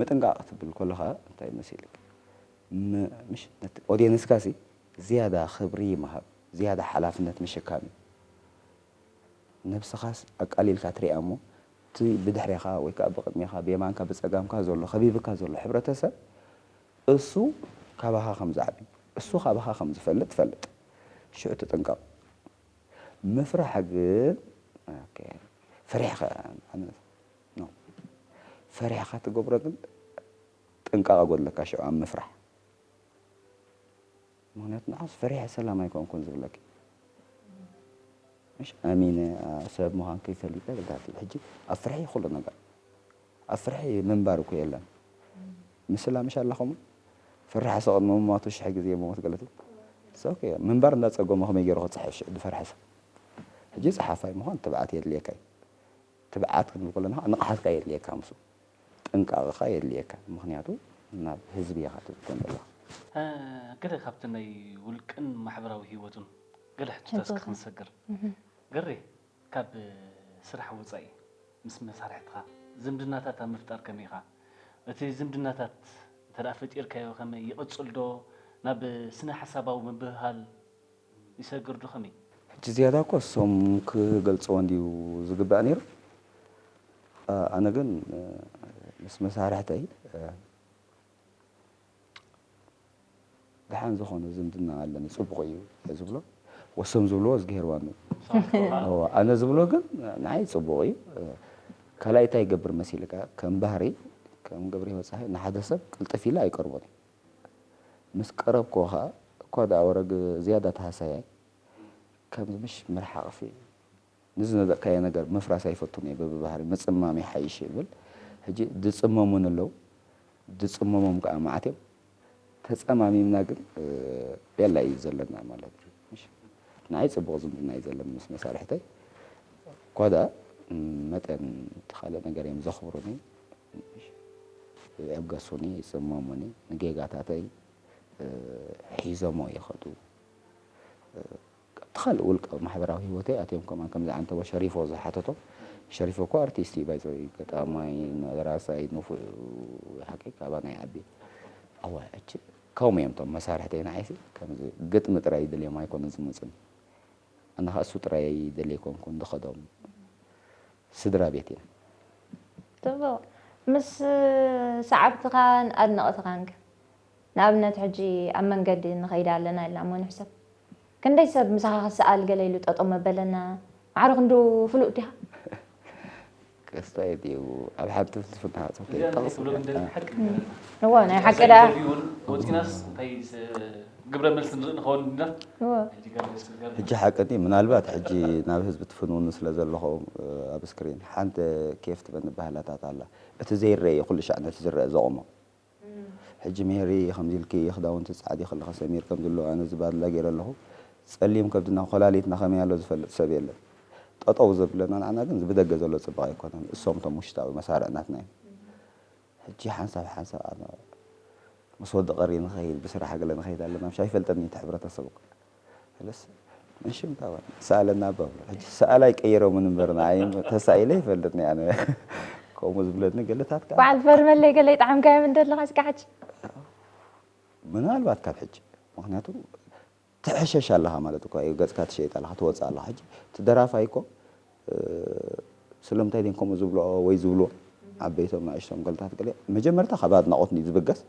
ምጥንቃቅ ክትብል ኮለካ እንታይ መሲልክ ም ምሽ ነቲ ኦዴንስካ ሲ ዝያዳ ክብሪ ምሃብ ዝያዳ ሓላፍነት ምሽካም እዩ ነብስካስ ኣቃሊልካ ትሪኣ እሞ እቲ ብድሕሬኻ ወይ ከኣ ብቕድሜኻ፣ ብየማንካ ብጸጋምካ ዘሎ፣ ከቢብካ ዘሎ ሕብረተሰብ፣ እሱ ካባኻ ከም ዝዓቢ፣ እሱ ካባኻ ከም ዝፈልጥ ፈልጥ። ሽዑ ትጥንቀቕ። ምፍራሕ ግን ኦኬ ፈሪሕኻ ማለት ኖ። ፈሪሕኻ ትገብሮ ግን ጥንቃቐ ጎድለካ ሽዑ ኣብ ምፍራሕ። ምክንያቱ ንዓስ ፈሪሐ ሰላም ኣይኮንኩን ዝብለኪ مش ኣሚነ ሰብ ምዃንኪ ፈሊጠ ብልታቲ ሕጂ ኣብ ፍርሒ ኩሉ ነገር ኣብ ፍርሒ ምንባር እኮ የለን ምስላ ምሽ ኣለኹም ፍራሕ ሰቕ ምሟቱ ሽሕ ግዜ ምሞት ገለቲ ሰው ምንባር እንዳጸገሞ ከመይ ገይሩ ክጽሕፍ ሽዕ ዝፈርሐ ሰብ ሕጂ ጸሓፋይ ምዃን ትብዓት የድልየካ እዩ ትብዓት ክንብል ከለና ንቕሓትካ የድልየካ ምስ ጥንቃቐኻ የድልየካ ምኽንያቱ ናብ ህዝቢ ኢኻ ትብከን ዘለኻ። ገለ ካብቲ ናይ ውልቅን ማሕበራዊ ህይወቱን ገለ ሕቶታት እስከ ክንሰግር። ገሬ ካብ ስራሕ ወጻኢ ምስ መሳርሕትኻ ዝምድናታት ኣብ ምፍጣር ከመይ ኢኻ? እቲ ዝምድናታት እንተ ፈጢርካዮ ከመይ ይቕጽል ዶ ናብ ስነ-ሓሳባዊ ምብህሃል ይሰግር ዶ ከመይ? ሕጂ ዝያዳ እኮ እሶም ክገልጽዎ እንድዩ ዝግባእ ኔሩ ኣነ ግን ምስ መሳርሕተይ ደሓን ዝኮነ ዝምድና ኣለኒ ጽቡቅ እዩ እየ ዝብሎ ወሶም ዝብልዎ እዝግሄርዋን እዩ እወ ኣነ ዝብሎ ግን ንዓይ ጽቡቅ እዩ ካልኣይ እንታይ ይገብር መሲልካ ከም ባህሪ ከም ገብሪሂወት ጸሃየ ንሓደ ሰብ ቅልጥፍ ኢለ ኣይቀርቦን እየ ምስ ቀረብክዎ ከኣ እኳ ደኣ ወረግ ዝያዳ ተሃሳያይ ከምዚ ምሽ ምርሓቕሲ ንዝነደቕካዮ ነገር ምፍራስ ኣይፈቱን እየ በብባህርይ ምጽማም ይሓይሽ እብል ሕጂ ዝጽመሙኒ ኣለዉ ዝጽመሞም ከኣ መዓት እዮም ተጸማሚምና ግን ቤላ እዩ ዘለና ማለት እዩ ምሽ ንዓይ ጽቡቕ ዝምድና እዩ ዘለኒ ምስ መሳርሕተይ እኳ ደኣ መጠን እቲ ካልእ ነገር እዮም ዘኽብሩኒ ይዕገሱኒ ይጽመሙኒ ንጌጋታተይ ሒዞሞ ይኸዱ ኣብቲ ካልእ ውልቃዊ ማሕበራዊ ሂወተይ ኣትዮም ከማን ከምዚ ዓንተቦ ሸሪፎ ዝሓተቶ ሸሪፎ እኮ ኣርቲስት እዩ ባይዘ ገጣማይ ደራሳይ ንፉዕ ሓቂ ካባና ይዓቢ ኣወ ሕጂ ከምኡ እዮም እቶም መሳርሕተይ ንዓይሲ ከምዚ ግጥሚ ጥራይ ይድልዮም ኣይኮነን ዝመጹኒ ኣነ ከዓ እሱ ጥራይ ይደሊ ኣይኮንኩን ዝኸዶም ስድራቤት እያ። ጽቡቕ ምስ ሰዓብትኻን ኣድነቕትኻን ከ? ንኣብነት ሕጂ ኣብ መንገዲ ንኸይድ ኣለና ኢልና እሞ ንሕሰብ። ክንደይ ሰብ ምሳኻ ክሰኣል ገለ ኢሉ ጠጠው መበለና? ማዕረ ክንድኡ ፍሉጥ ዲኻ? ኣስተያየት እዩ ኣብ ሓድቲ ፍልስፍና ሃጹ ከይጠቕስ። እዋ ናይ ሓቂ ደኣ። ግብረ መልሲ ንርኢ ንኸውን እንበር ሕጂ ገለ ዘስገር ሕጂ ሓቂ ድዩ ምናልባት ሕጂ ናብ ህዝቢ ትፍንውኑ ስለ ዘለኹም ኣብ ስክሪን ሓንቲ ኬፍ ትበኒ ኣባህላታት ኣላ እቲ ዘይረኤ እዩ ኩሉ ሻዕ ነቲ ዝረኣ ዘቑሞ ሕጂ ሜሪ ከምዚ ኢልኪ ክዳውንቲ ትጸዓዲ ከለኺ ሰሚር ከምዚ ኣሎ ኣነ እዚ ባድላ ጌረ ኣለኹ ጸሊም ከብድና ኮላሊትና ከመይ ኣሎ ዝፈልጥ ሰብ የለን ጠጠው ዘብለና ንዓና ግን እዚ ብደገ ዘሎ ጽባቐ ኣይኮነን እሶም እቶም ውሽጣዊ መሳርዕ ናትና እዮም ሕጂ ሓንሳብ ሓንሳብ ኣነ ምስ ወዲ ቀሪ ንኸይድ ብስራሕ ገለ ንኸይድ ኣለና ምሽ ኣይፈልጠን እዩ እቲ ሕብረተሰብ እኮ እለስ መሽም ታባን ሰኣለና እባ ብሎ ሕጂ ሰኣል ኣይቀይሮምን እምበር ንዓይ ተሳኢለ ይፈልጥኒ ኣነ ከምኡ ዝብለኒ ገለታት ከ በዓል በርመለይ ገለ ይጥዓምካዮም እንደለኻ እስከ ሕጂ ምናልባት ካብ ሕጂ ምክንያቱ ትሕሸሽ ኣለኻ ማለት እኳ እዩ ገጽካ ትሸይጥ ኣለኻ ትወጽእ ኣለኻ ሕጂ እቲ ደራፋይ እኮ ስለምንታይ ድየን ከምኡ ዝብልኦ ወይ ዝብልዎ ዓበይቶም ንኣሽቶም ገልታት ገለ መጀመርታ ካብ ኣድናቆት ንዩ ዝብገስ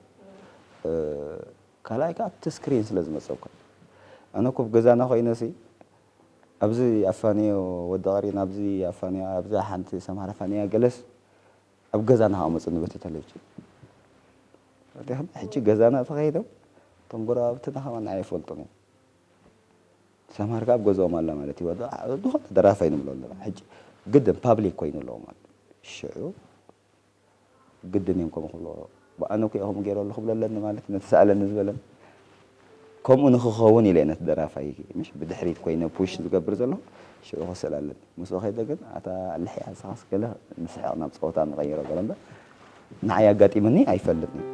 ካልኣይ ከኣ ኣብቲ ስክሪን ስለ ዝመጸብካ ኣነ እኮ ኣብ ገዛና ኮይነሲ ኣብዚ ኣፋንዮ ወዲ ቀሪን ኣብዚ ኣፋንዮ ኣብዛ ሓንቲ ሰምሃር ኣፋንያ ገለስ ኣብ ገዛ ንክኣመፁኒ በቲ ተለቪጅን ፈቲሖም ሕጂ ገዛና ተኸይዶም እቶም ጎረባብትና ከማን ንዓይ ይፈልጡኒ እዮም ሰምሃር ከኣ ኣብ ገዝኦም ኣላ ማለት እዩ ዝኾነ ደራፋይ ንብሎ ኣለና ሕጂ ግድን ፓብሊክ ኮይኑ ኣለዎ ማለት ሽዑ ግድን እዮም ከምኡ ክብልዎ ኣነ እኮ እየ ከምኡ ገይረሉ ክብሎ ኣለኒ ማለት ነቲ ሰኣለኒ ዝበለን ከምኡ ንክኸውን ኢለ ነቲ ደራፋይ ምሽ ብድሕሪት ኮይነ ፑሽ ዝገብር ዘለኹ ሽዑ ክስእል ኣለኒ ምስኡ ከይደ ግን ኣታ ልሕያ ንስኻስ ገለ ንስሕቕ ናብ ፀወታ ንቐይሮ ገለ እምበር ንዓይ ኣጋጢሙኒ ኣይፈልጥን እዩ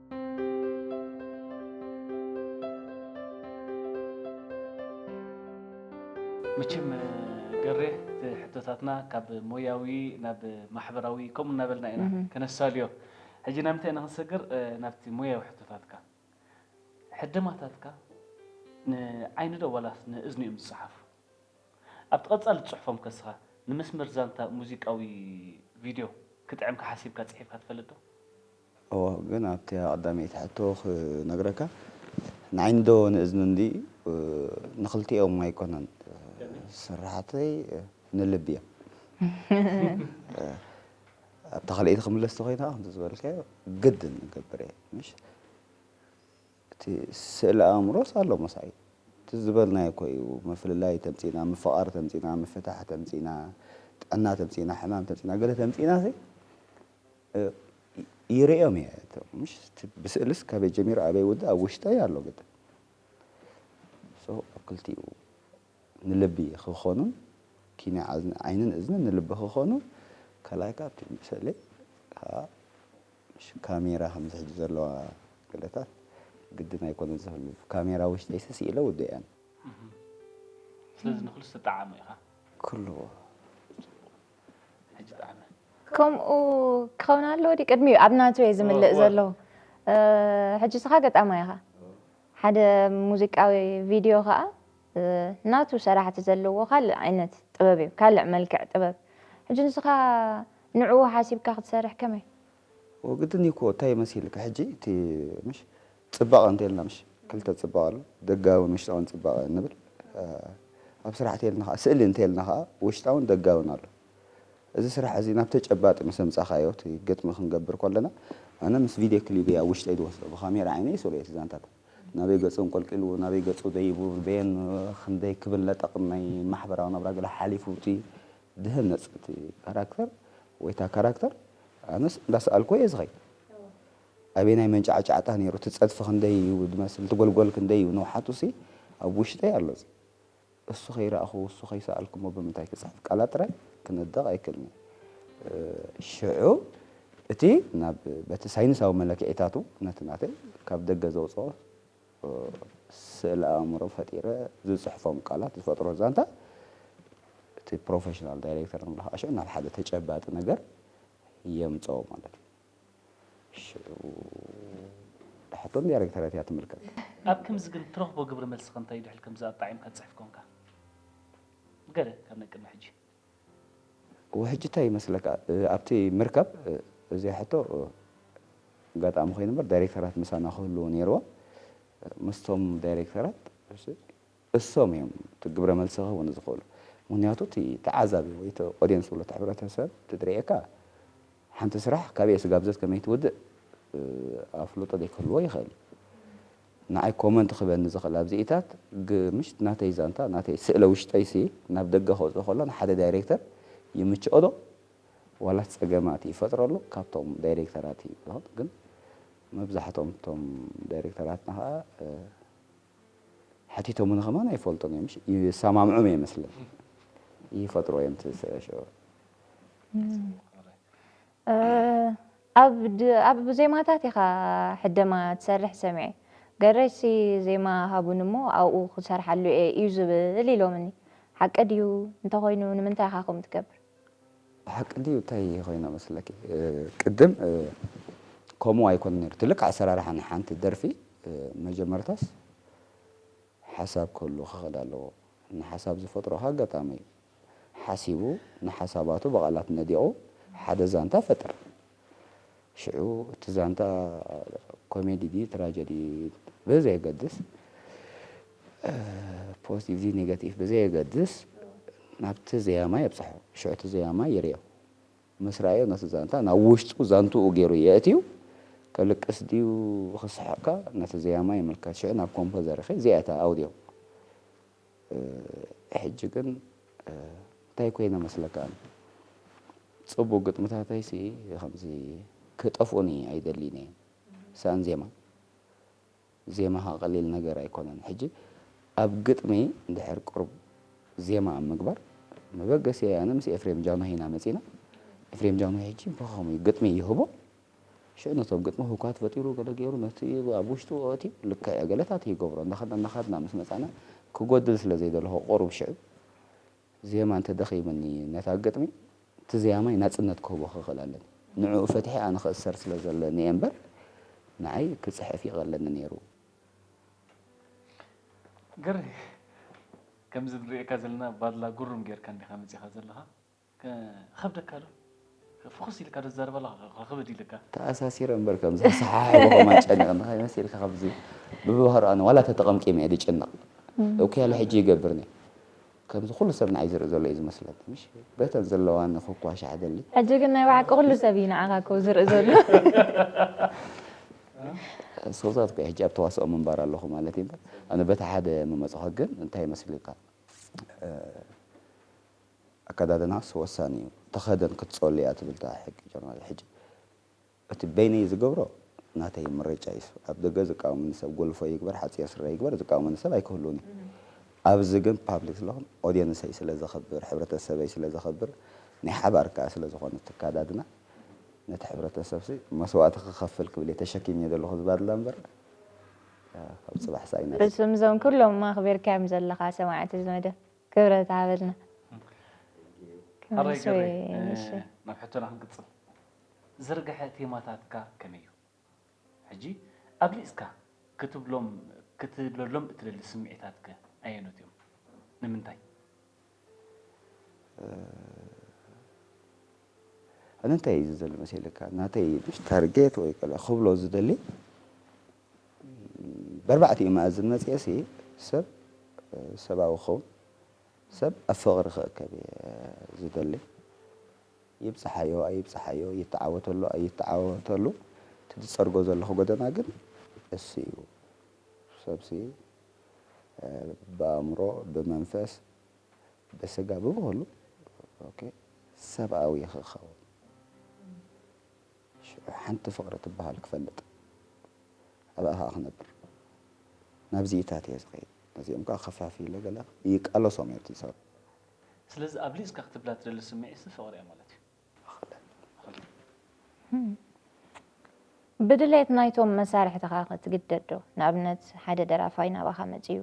መቸም ገሬ እቲ ሕቶታትና ካብ ሞያዊ ናብ ማሕበራዊ ከምኡ እናበልና ኢና ከነሳልዮ ሕጂ ናብ ምንታይ ኢና ክንሰግር ናብቲ ሞያዊ ሕቶታትካ ሕደማታትካ ንዓይኒ ዶ ዋላስ ንእዝኒ እዮም ዝጸሓፉ ኣብቲ ቀጻሊ ትጽሕፎም ከስኻ ንመስመር ዛንታ ሙዚቃዊ ቪድዮ ክጥዕምካ ሓሲብካ ጽሒፍካ ትፈልጥ ዶ እወ ግን ኣብቲ ቀዳመይቲ ሕቶ ክነግረካ ንዓይንዶ ንእዝኒ እንዲ ንክልቲኦም ኣይኮነን ስራሓተይ ንልቢ እያ ኣብታ ካልኣይቲ ክምለስ ተኮይና ከምቲ ዝበልካዮ ግድን ንገብር እየ ምሽ እቲ ስእሊ ኣእምሮስ ኣሎ መሳይ እቲ ዝበልናዮ እኮ እዩ ምፍልላይ ተምፂና ምፍቓር ተምፂና ምፍታሕ ተምፂና ጥዕና ተምፂና ሕማም ተምፂና ገለ ተምፂና ይርእዮም እየ ምሽት ብስእልስ ካበይ ጀሚሩ ኣበይ ውዳእ ኣብ ውሽጠይ ኣሎ ግጥም ሶ ኣብ ክልቲኡ ንልቢ ክኾኑን ኪነ ዓይንን እዝንን ንልቢ ክኾኑ ካልኣይ ከዓ ኣብቲ ምስእለይ ከዓ ምሽ ካሜራ ከምዚ ሕጂ ዘለዋ ገለታት ግድን ኣይኮነን ዝህሉ ካሜራ ውሽጠይ ስኢለ ውድእየን ስለዚ ንክሉ ዝተጠዓሙ ኢኻ ክሉ ከምኡ ክኸውን ኣለዎ ዲ ቅድሚ ኣብ ናቱ እየ ዝምልእ ዘሎ ሕጂ ስኻ ገጣማይ ኢኻ ሓደ ሙዚቃዊ ቪድዮ ከዓ ናቱ ሰራሕቲ ዘለዎ ካልእ ዓይነት ጥበብ እዩ ካልዕ መልክዕ ጥበብ ሕጂ ንስኻ ንዕኡ ሓሲብካ ክትሰርሕ ከመይ ወግዲ ኒኮ ታይ መሲልካ ሕጂ እቲ ምሽ ፅባቀ እንተልና ምሽ ክልተ ፅባቀ ኣሎ ደጋዊን ውሽጣዊን ፅባቀ ንብል ኣብ ስራሕ እተልና ካዓ ስእሊ እንተልና ካዓ ውሽጣዊን ደጋዊን ኣሎ እዚ ስራሕ እዚ ናብ ተጨባጢ ምስ ኣምፃካዮ እቲ ግጥሚ ክንገብር ኮለና ኣነ ምስ ቪድዮ ክሊበይ ኣብ ውሽጠይ ዝወስዶ ብካሜራ ዓይነይ ይስእሎ እቲ ዛንታታት ናበይ ገፁ እንቆልቂሉ ናበይ ገፁ ደይቡ በየን ክንደይ ክብል ለጠቅም ናይ ማሕበራዊ ናብራ ገለ ሓሊፉ እቲ ድህነጽ እቲ ካራክተር ወይ እታ ካራክተር ኣነስ እንዳሰኣልኩ እየ ዝኸይድ ኣበየናይ መንጫዕጫዕታ ነይሩ እቲ ጸድፊ ክንደይ እዩ ዝመስል እቲ ጎልጎል ክንደይ እዩ ንውሓቱሲ ኣብ ውሽጠይ ኣሎ እዚ እሱ ከይረኣኹ እሱ ከይሰኣልኩሞ ብምንታይ ክጽሕፍ ቃላት ጥራይ ክነድቕ ኣይክእልን'የ ሽዑ እቲ ናብ በቲ ሳይንሳዊ መለክዒታቱ ነቲ ናተይ ካብ ደገ ዘውጽኦ ስእለ ኣእምሮ ፈጢረ ዝጽሕፎም ቃላት ዝፈጥሮ ዛንታ እቲ ፕሮፌሽናል ዳይሬክተር ንብሎ ከዓ ሽዑ ናብ ሓደ ተጨባጢ ነገር የምጽኦ ማለት እዩ። ሽዑ እታ ሕቶ ንዳይሬክተረት እያ ትምልከት። ኣብ ከምዚ ግን እትረኽቦ ግብረ መልሲ ከ እንታይ እዩ ድሕሪ ከምዚ ኣጣዒምካ ትጽሕፍ ኮንካ? ገለ ካብ ናይ ቅድሚ ሕጂ። ውሕጅ ታይ ይመስለካ ኣብቲ ምርካብ እዚኣ ሕቶ ኣጋጣሚ ኮይኑ እምበር ዳይሬክተራት ምሳና ክህልዉ ነይርዎም ምስቶም ዳይሬክተራት እሶም እዮም እቲ ግብረ መልሲ ክህቡኒ ዝኽእሉ ምክንያቱ እቲ ተዓዛቢ ወይ እቲ ኦድየንስ ዝብሎ እቲ ሕብረተሰብ እንትድርኤካ ሓንቲ ስራሕ ካበይ እያ ስጋብዘት ከመይ ትውድእ ኣፍልጦ ዘይክህልዎ ይኽእል እዩ ንዓይ ኮመንት ክህበኒ ዝኽእል ኣብዚኢታት ግ ምሽት ናተይ ዛንታ ናተይ ስእለ ውሽጠይሲ ናብ ደገ ከውጽኦ ከሎ ንሓደ ዳይሬክተር ይምችኦ ዶ ዋላስ ጸገማት ይፈጥረሉ ካብቶም ዳይሬክተራት እዩ ዝኸውን ግን መብዛሕቶም እቶም ዳይሬክተራትና ከኣ ሓቲቶሙኒ ከማን ኣይፈልጡን እዮም እሺ ይሰማምዑም እየ መስለኒ ይፈጥርዎ እዮም እቲ ስእለ ሽዑ ኣብ ዜማታት ኢኻ ሕደማ ትሰርሕ ሰሚዐ ገሬሲ ዜማ ሃቡኒ እሞ ኣብኡ ክሰርሓሉ እየ እዩ ዝብል ኢሎምኒ ሓቂ ድዩ እንተኾይኑ ንምንታይ ኢኻ ከምኡ ትገብር? ሓቂ ድዩ እንታይ ኮይና መስለኪ ቅድም ከምኡ ኣይኮነን ኔሩ እቲ ልክዕ ኣሰራርሓ ናይ ሓንቲ ደርፊ መጀመርታስ ሓሳብ ክህልዎ ክኽእል ኣለዎ ንሓሳብ ዝፈጥሮ ኣጋጣሚ እዩ። ሓሲቡ ንሓሳባቱ ብቓላት ነዲቑ ሓደ ዛንታ ፈጥር። ሽዑ እቲ ዛንታ ኮሜዲ ድዩ ትራጀዲ ብዘየገድስ፣ ፖዚቲቭ ድዩ ኔጋቲቭ ብዘየገድስ ናብቲ ዘያማይ ኣብጽሖ። ሽዑ እቲ ዘያማይ ይርእዮ። ምስ ረኣዮ ነቲ ዛንታ ናብ ውሽጡ ዛንትኡ ገይሩ የእትዩ። ከልቅስ ድዩ ክስሕቕከ ነቲ ዘያማይ ይምልከት። ሽዑ ናብ ኮምፖዘርኺ እዚኣ እያ እታ ኣውድዮ። ሕጂ ግን እንታይ ኮይነ መስለካ ጽቡቅ ግጥምታተይሲ ከምዚ ክጠፍኡኒ ኣይደልይን እየ ሳኣን ዜማ ዜማኻ ቀሊል ነገር ኣይኮነን ሕጂ ኣብ ግጥሚ እንድሕር ቅሩብ ዜማ ኣብ ምግባር መበገሲ ኣነ ምስ ኤፍሬም ጃንሆይ ኢና መጺና ኤፍሬም ጃንሆይ ሕጂ ብኸምኡ ግጥሚ ይህቦ ሽዑ ነቶም ግጥሚ ህውካት ፈጢሩ ገለ ገይሩ ነቲ ኣብ ውሽጡ ኣእትዩ ልክዕ እያ ገለታት ይገብሮ እንዳኸድና እንዳኸድና ምስ መጻና ክጎድል ስለ ዘይደለኹ ቁሩብ ሽዑ ዜማ እንተ ደኺምኒ ነታ ግጥሚ እቲ ዘያማይ ናጽነት ክህቦ ክኽእል ኣለኒ ንዕኡ ፈቲሐ ኣነ ክእሰር ስለ ዘለኒ እየ እምበር ንዓይ ክጽሕፍ ይቐለኒ ነይሩ። ገሬ ከምዚ ንርእየካ ዘለና ባድላ ጉርም ጌርካ እንዲኻ መጺኻ ዘለኻ ክኸብደካ ዶ ፍኹስ ኢልካ ትዛረበላ ክኽብድ ኢልካ። ተኣሳሲረ እምበር ከምዚ ክሰሓሕቦ ከም ኣጨንቕኒ ከይመሲል ከምዚ ብብባህሩ ኣነ ዋላ ተተቐምቂመ እየ ድጭነቕ እውከይ ኣለ ሕጂ ይገብር እኔ ከምዚ ኩሉ ሰብ ንዓይ ዝርኢ ዘሎ እዩ ዝመስለኒ ምሽ በተን ዘለዋኒ ክኳሻሕ ደሊ ሕጂ ግን ናይ ብሓቂ ኩሉ ሰብ እዩ ንዓኻ እኮ ዝርኢ ዘሎ ስክዛት እኮ ሕጂ ኣብ ተዋስኦ ምንባር ኣለኹ ማለት እዩ እምበር ኣነ በቲ ሓደ ምመጽኹ ግን እንታይ ይመስልካ ኣከዳድናስ ወሳኒ እዩ ተኸደን ክትጸሉ እያ ትብል እታ ሕጊ ጀርመን ሕጂ እቲ በይነይ ዝገብሮ ናተይ ምርጫ እዩ ኣብ ደገ ዝቃወመኒ ሰብ ጎልፎ ይግበር ሓጺር ስረ ይግበር ዝቃወመኒ ሰብ ኣይክህሉን እዩ ኣብዚ ግን ፓብሊክ ስለኹን ኦድየንሰይ ስለ ዘኽብር ሕብረተሰበይ ስለ ዘኽብር ናይ ሓባር ከኣ ስለ ዝኾነ እቲ ኣከዳድና ነቲ ሕብረተሰብሲ መስዋእቲ ክኸፍል ክብል እየ ተሸኪመዮ ዘለኹ ዝባድላ እምበር ካብ ጽባሕ ሳኢናስ። ፍጹም እዞም ኩሎም ኣኽቢርካዮም ዘለኻ ሰማዕቲ እዚ መደብ ክብረት ይሃበልና። ሕራይ ገሬ ናብ ሕቶና ክንቅጽል ዝርግሐ ቴማታትካ ከመይ እዩ ሕጂ ኣብሊጽካ ክትብሎም ክትብለሎም እትደሊ ስምዒታት ከ ኣየኖት እዮም ንምንታይ? ኣነ እንታይ እዩ ዝደሊ መሲልካ ናተይ ታርጌት ወይ ክብሎ ዝደሊ በርባዕቲኡ መኣዝን መጺኤሲ ሰብ ሰባዊ ክኸውን ሰብ ኣብ ፍቕሪ ክእከብ እየ ዝደሊ። ይብጽሓዮ ኣይብጽሓዮ ይተዓወተሉ ኣይተዓወተሉ እቲ ዝጸርጎ ዘለኹ ጎደና ግን እሱ እዩ። ሰብሲ ብኣእምሮ ብመንፈስ ብስጋ ብብኹሉ ሰብኣዊ ክኸውን። ሽዑ ሓንቲ ፍቕሪ ትበሃል ክፈልጥ ኣብኣ ከኣ ክነብር ናብዚኢታት እየ ዝኸይድ ነዚኦም ከኣ ከፋፊለ ገለ ይቃለሶም እየ ኣብቲ ሰብ። ስለዚ ኣብሊጽካ ክትብላ ትደሊ ስምዒትሲ ፍቕሪ እያ ማለት እዩ። እኽለ። ብድሌት ናይቶም መሳርሕትኻ ክትግደድ ዶ? ንኣብነት ሓደ ደራፋይ ናባኻ መጺኡ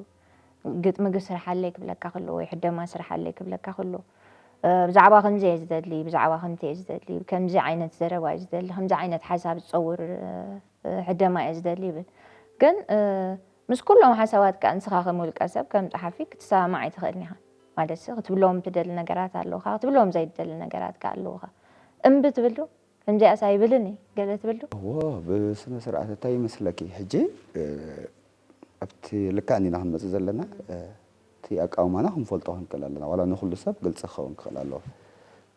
ግጥሚግ ስርሓለይ ክብለካ ክሉ ወይ ሕደማ ስርሓለይ ክብለካ ክሉ ብዛዕባ ከምዚ እየ ዝደሊ ብዛዕባ ከምቲ እየ ዝደሊ ከምዚ ዓይነት ዘረባ እየ ዝደሊ ከምዚ ዓይነት ሓሳብ ዝፀውር ሕደማ እየ ዝደሊ ይብል ግን ምስ ኩሎም ሓሳባት ከ ንስኻ ከም ውልቀ ሰብ ከም ጸሓፊ ክትሰማማዕ ኣይትኽእልን ኢኻ ማለት ሲ ክትብሎም ትደሊ ነገራት ኣለውካ ክትብሎም ዘይትደሊ ነገራት ከ ኣለውካ እምቢ ትብል ዶ ከምዚኣስ ኣይብልን እየ ገለ ትብል ዶ እዎ ብስነ ስርዓት እንታይ ይመስለኪ ሕጂ ኣብቲ ልክዕ እንዲና ክንመጽእ ዘለና እቲ ኣቃውማና ክንፈልጦ ክንክእል ኣለና ዋላ ንኩሉ ሰብ ግልጺ ክኸውን ክኽእል ኣለዎ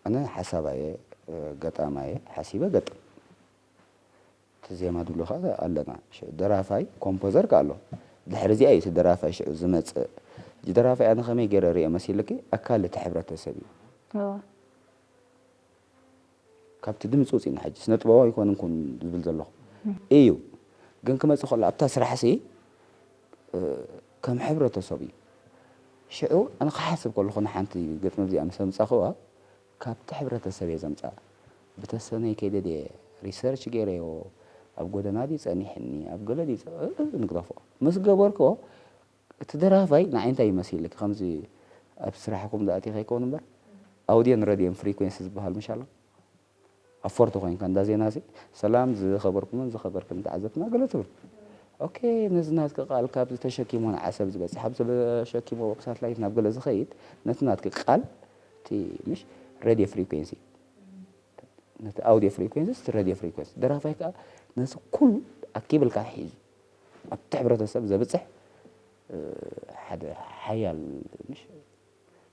ኣነ ሓሳባ እየ ገጣማ እየ ሓሲበ ገጥም እቲ ዜማ ድብሎ ከኣ ኣለና ሽዑ ደራፋይ ኮምፖዘር ከኣ ኣሎ ድሕሪ እዚኣ እዩ እቲ ደራፋይ ሽዑ ዝመጽእ ሕጂ ደራፋይ ኣነ ከመይ ገይረ ርእየ መሲልኪ ኣካል እቲ ሕብረተሰብ እዩ ካብቲ ድምጺ ወጺእና ሕጂ ስነጥበባዊ ኣይኮንን ኩን ዝብል ዘለኹ እዩ ግን ክመጽእ ከሎ ኣብታ ስራሕሲ ከም ሕብረተሰብ እዩ ሽዑ ኣነ ክሓስብ ከለኹ ንሓንቲ ገጽ መዚኣ ምስ ኣምጻኽዋ ካብቲ ሕብረተሰብ እየ ዘምጻ ብተሰነይ ከይደ ድየ ሪሰርች ገይረዮ ኣብ ጎደና ድዩ ጸኒሕኒ ኣብ ገለ ድዩ ንግደፎ ምስ ገበርክዎ እቲ ደራፋይ ንዓይ እንታይ እዩ መሲልኪ ከምዚ ኣብ ስራሕኩም ዝኣቲ ከይከውን እምበር ኣውድዮን ረድዮን ፍሪኮንሲ ዝበሃል ምሽ ኣሎ ኣብ ፎርቶ ኮይንካ እንዳ ዜና ሲ ሰላም ዝኸበርኩምን ዝኸበርክን ተዓዘብትና ገለ ትብል ኦኬ ነዚ ናትኪ ቃል ካብዚ ተሸኪሞ ንዓሰብ ዝበጽሕ ኣብ ተሸኪሞ ሳትላይት ናብ ገለ ዝኸይድ ነቲ ናትኪ ቃል እቲ ምሽ ረድዮ ፍሪኮንሲ ነቲ ኣውድዮ ፍሪኮንሲ እቲ ረድዮ ፍሪኮንሲ ደራፋይ ከዓ ነዚ ኩሉ ኣኪብልካ ሒዙ ኣብቲ ሕብረተሰብ ዘብጽሕ ሓደ ሓያል ምሽ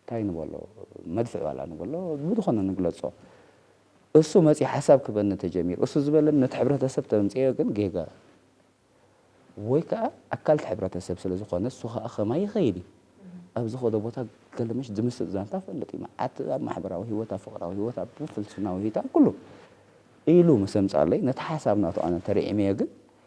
እንታይ ንበሎ መድፍዕ ዋላ ንበሎ ብዝኾነ ንግለጾ እሱ መጺኡ ሓሳብ ክበኒ ተጀሚሩ እሱ ዝበለኒ ነቲ ሕብረተሰብ ተምጽዮ ግን ጌጋ ወይ ከዓ ኣካልቲ ሕብረተሰብ ስለ ዝኾነ እሱ ከዓ ከማይ ይኸይድ እዩ ኣብ ዝኸዶ ቦታ ገልምሽ ዝምስጥ ዛንታ ፈልጥ እዩ መዓት ኣብ ማሕበራዊ ህይወት ኣብ ፍቕራዊ ህይወት ኣብ ፍልስፍናዊ ህይወት ኣብ ኩሉ ኢሉ ምስ ኣምጻለይ ነቲ ሓሳብ ናቱ ኣነ ተርዒመዮ ግን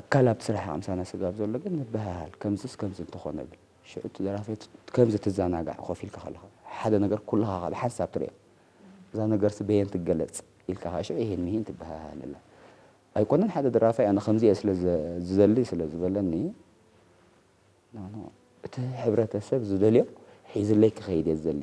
ኣካል ኣብቲ ስራሕ ኣምሳና ስጋብ ዘሎ ግን ንበሃሃል ከምዝስ ከምዚ እንተኾነ ብል ሽዑ እቲ ደራፊ ከምዚ ትዛናጋዕ ኮፍ ኢልካ ከለኻ ሓደ ነገር ኩልኻ ከኣ ብሓንሳብ ትሪኦ እዛ ነገርሲ በየን ትገለጽ ኢልካ ከኣ ሽዑ ኢሂን ምሂን ትበሃሃለላ ኣይኮነን ሓደ ደራፋይ ኣነ ከምዚ እየ ስለ ዝደሊ ስለ ዝበለኒ እቲ ሕብረተሰብ ዝደልዮ ሒዝለይ ክኸይድ እየ ዝደሊ